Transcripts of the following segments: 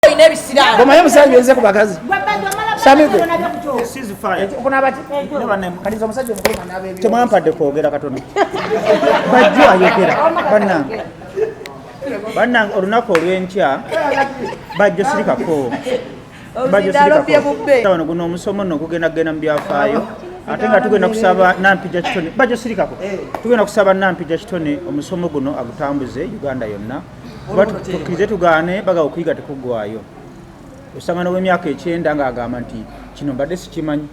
olina ebisiraamu goma yo musajja yenze ku bakazi temwampadde kwogera katono bajjo ayogera banange banange olunaku olwenkya bajjo sirikako bajjo sirikako wano guno omusomo no gugenda kugenda mu byafaayo ate nga tugenda kusaba nampija kitone bajo sirikako eh. tugenda kusaba nampija kitone omusomo guno agutambuze uganda yonna tukkirize tugaane baga okuyiga tekuggwayo osanga nowemyaka ekyenda ng'agamba nti kino mbadde sikimanyi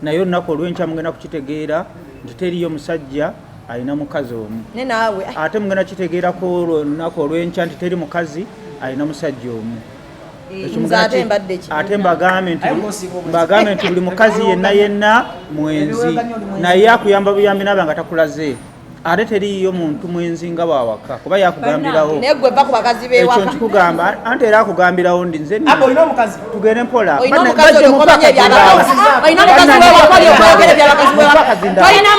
naye olunaku olwenkya mugenda kukitegeera nti teriyo musajja alina mukazi omu ate mugenda kitegeerako olunaku olwenkya nti teri mukazi alina musajja omu ate mbagambe nti buli mukazi yenna yenna mwenzi naye akuyamba buyambi naba nga takulaze ate teriiyo muntu mwenzi nga wawaka kuba yakugambirawo ekyo nkikugamba ante era akugambirawo ndi nze tugende mpolaolina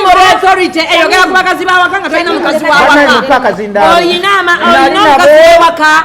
moral authority eyogera ku bakazi bawaka nga tolina mukazi wawaka olina mukazi wawaka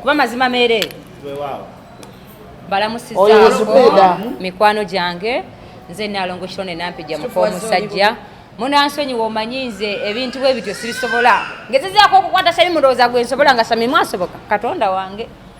kuba mazima mere balamusiza mikwano gyange nze nalongo kirone nampija muka omusajja munansonyi womanyi nze ebintu bwe bityo sibisobola ngezezaako okukwata sami mulowooza gwe nsobola nga sami mwasoboka katonda wange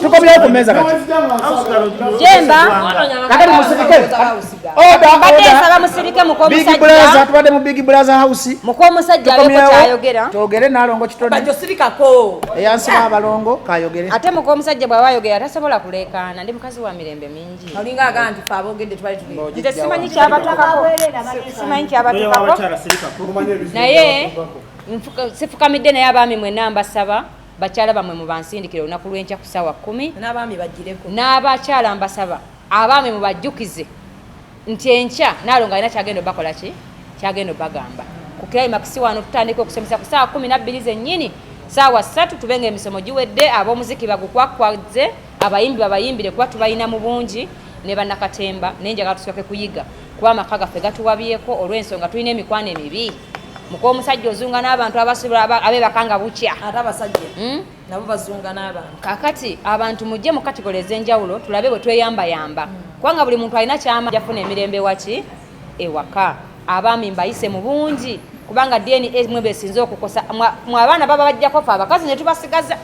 tukomyewo ku mmeeza katyemba kati musirike odaodabigbulaza tubadde mu big bulaza house mukomusajja kyayogera togere nalongo kitoniyansiba abalongo kayogere ate mukomusajja bwaba ayogera tasobola kuleekaana ndi mukazi wa mirembe olinga aga nti fe abogedde twali tulinze simanyi kyabatukako simanyi kyabatukako naye sifukamidde naye abaami mwena mbasaba bakyala bamwe mubansindikire olunaku lwenkya ku saawa kumi n'abakyala mbasaba abaami mubajjukize nti enkya nalonga alina kyagenda obakola ki kyagenda obagamba ku kilayimakisi wano tutandika okusomesa ku saawa kumi nabbiri zennyini saawa ssatu tube nga emisomo giwedde ab'omuziki bagukwakwaze Abayimbi babayimbire kuba tubalina mu bungi ne bannakatemba naye njagala tusooke kuyiga kuba amaka gaffe gatuwabyeko olw'ensonga tulina emikwano emibi muka omusajja ozunga n'abantu abasula abebaka nga bukya ate abasajja hmm? nabo bazunga n'abantu kakati abantu mujje mu kategole ez'enjawulo tulabe bwe tweyambayamba hmm. kubanga buli muntu alina kyama jafuna emirembe waki ewaka abaami mbayise mu bungi kubanga dna mwe besinze okukosa mwe abaana baba bajjako fe abakazi ne tubasigaza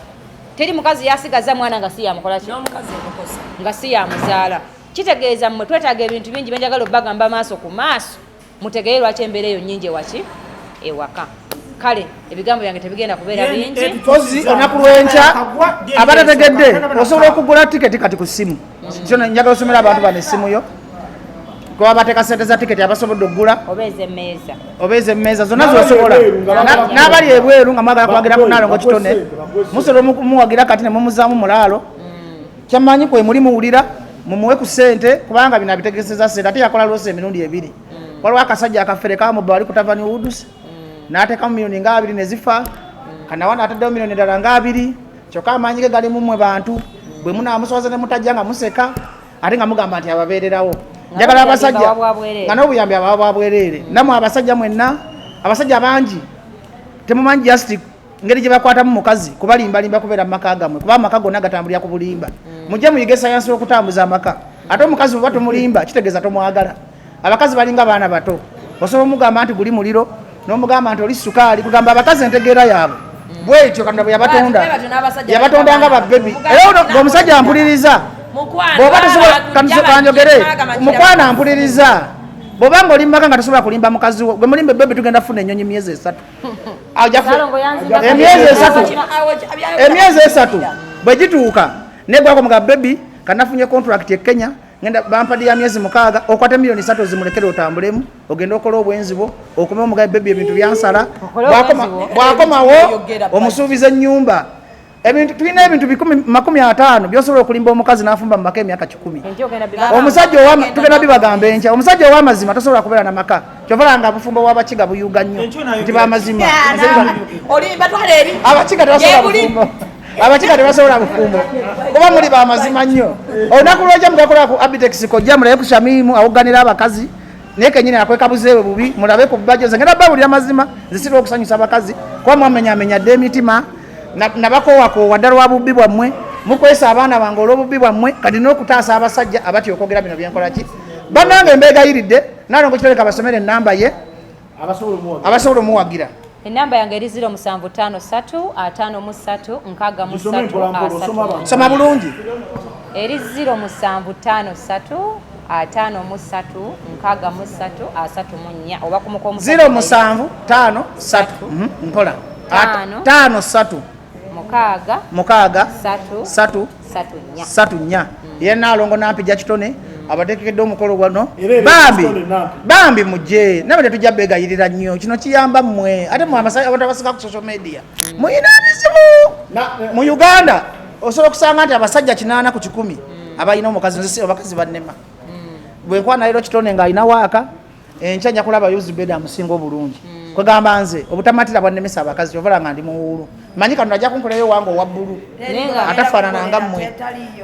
teri mukazi yasigaza mwana nga siyamukola ki nga siyamuzaala kitegeeza mmwe twetaaga ebintu bingi byenjagala obagamba maaso ku maaso mutegeye lwaki embeera eyo nyingi ewaki ewaka kale ebigambo byange tebigenda kubeera bingi ozi olunaku lwenkya abatategedde osobola okugula tiketi kati ku ssimu kyono njaga osomera abantu bano essimu yo kuba bateeka sente za tiketi abasobodde okugula oba ezemmeeza zonna zosobola n'abali ebweru nga mwagala kuwagira munaalongo kitone musobola omumuwagira kati nemumuzaamu mulaalo mm. kyamanyi kwe muli muwulira mumuwe ku sente kubanga bino abitegezeza sente ate yakola lwosa emirundi ebiri mm. waliwo akasajja akafere kamuba wali kutavani wudusi mm. n'ateekamu milioni nga abiri ne zifa kanawana ataddewo milioni dala nga abiri kyokka amaanyi ge gali mumwe bantu bwe munaamuswaza ne mutajja nga museka ate nga mugamba nti ababeererawo njagala abasajja nga n'obuyambi ababa bwabwereere namwe abasajja mwenna abasajja bangi temumanyi just ngeri gye bakwatamu mukazi kubalimbalimba kubeera mu maka gamwe kuba amaka gonna gatambulira ku bulimba mm. mujje muyige sayansi w'okutambuza amaka ate omukazi bwebatumulimba kitegeeza tomwagala abakazi balinga baana bato osobola omugamba nti guli muliro nomugamba nti oli sukaali kugamba abakazi entegeera yaabwe bwekyo katonda bwe yabatonda yabatonda nga babebi era omusajja ampuliriza bwoba tosobolanjogere mukwano ampuliriza bwoba nga oli mumaka nga tosobola kulimba mukazi wo gwe mulimba ebebi tugenda funa enyonyi myezi esatu emyezi esatu emyezi esatu bwe gituuka negwako mga bebi kanafunye contract e kenya ngenda bampadi ya myezi mukaaga okwate miliyoni satu ozimulekere otambulemu ogende okola obwenzi bwo okome omugabe bebi ebintu byansala bwakomawo omusuubiza ennyumba ebintu tulina ebintu bikumi makumi ataano byosobola okulimba omukazi n'afumba mu maka emyaka kikumi omusajja tugenda bibagamba enkya omusajja ow'amazima tosobola kubeera na maka kyovala nga bufumbo bwabakiga buyuga nnyo nti bamazima abakiga tebasobola bufumbo abakiga tebasobola bufumbo kuba muli bamazima nnyo olunaku lwoja mugakola ku abitex kojja mulabe ku shamimu awuganira abakazi naye kenyini akwekabuzeewe bubi mulabe ku bajo ze ngenda babulira mazima zisirwa okusanyusa abakazi kuba mwamenyamenya dde emitima nabakowakoowa dda lwa bubbi bwammwe mukwesa abaana bange olw'obubbi bwammwe kati n'okutaasa abasajja abatya okwogera bino byenkola ki bannange mbeegayiridde nalongo kitoleka basomera ennamba ye abasobola omuwagira enamba yange eri 075353 soma bulungi eri 0753 ataano mu ssatu nkaaga mu ssatu asatu mu nnya oba kumukomuziro musanvu taano satu mhm, mpola taano satu mukaaga mukaaga satu satu satu nnya satu nnya mm. ye naalongo nampija kitone mm. abatekekedde omukolo gwano bambi bambi mujje nabe tetujja begayirira nnyo kino kiyamba mmwe ate mwe abasaabatabasinga ku social media mm. muyina bizibu mu uganda osobola okusanga nti abasajja kinaana ku kikumi mm. abalina omukazi nzisi abakazi bannema mm. bwenkwana lero kitone nga alina waaka enkya nja kulaba yuzubeda amusinga obulungi mm. kwegamba nze obutamatira bwannemesa abakazi ovala nga ndi muwuulu manyi kano ajja kunkolayo wange owa bbulu atafaanana nga mmwe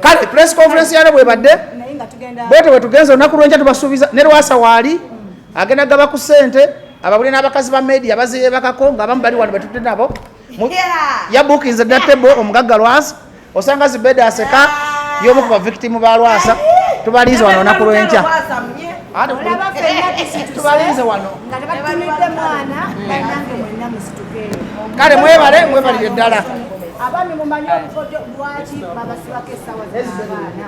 kale press conference yalo bwebadde bwete bwetugenza olunaku lwenkya tubasuubiza ne lwasa waali agenda gaba ku ssente ababuli n'abakazi ba media baziyebakako ngaabamu bali wano betudde nabo yabukinze datebo omugagga lwasa osanga zibeda aseka yomu ku bavictimu ba lwasa tubalinze wano olunaku lwenkya tubalinze wano kale mwebale mwebalire ddala abaami mumanyi obukodyo lwaki babasibako esawa zabaana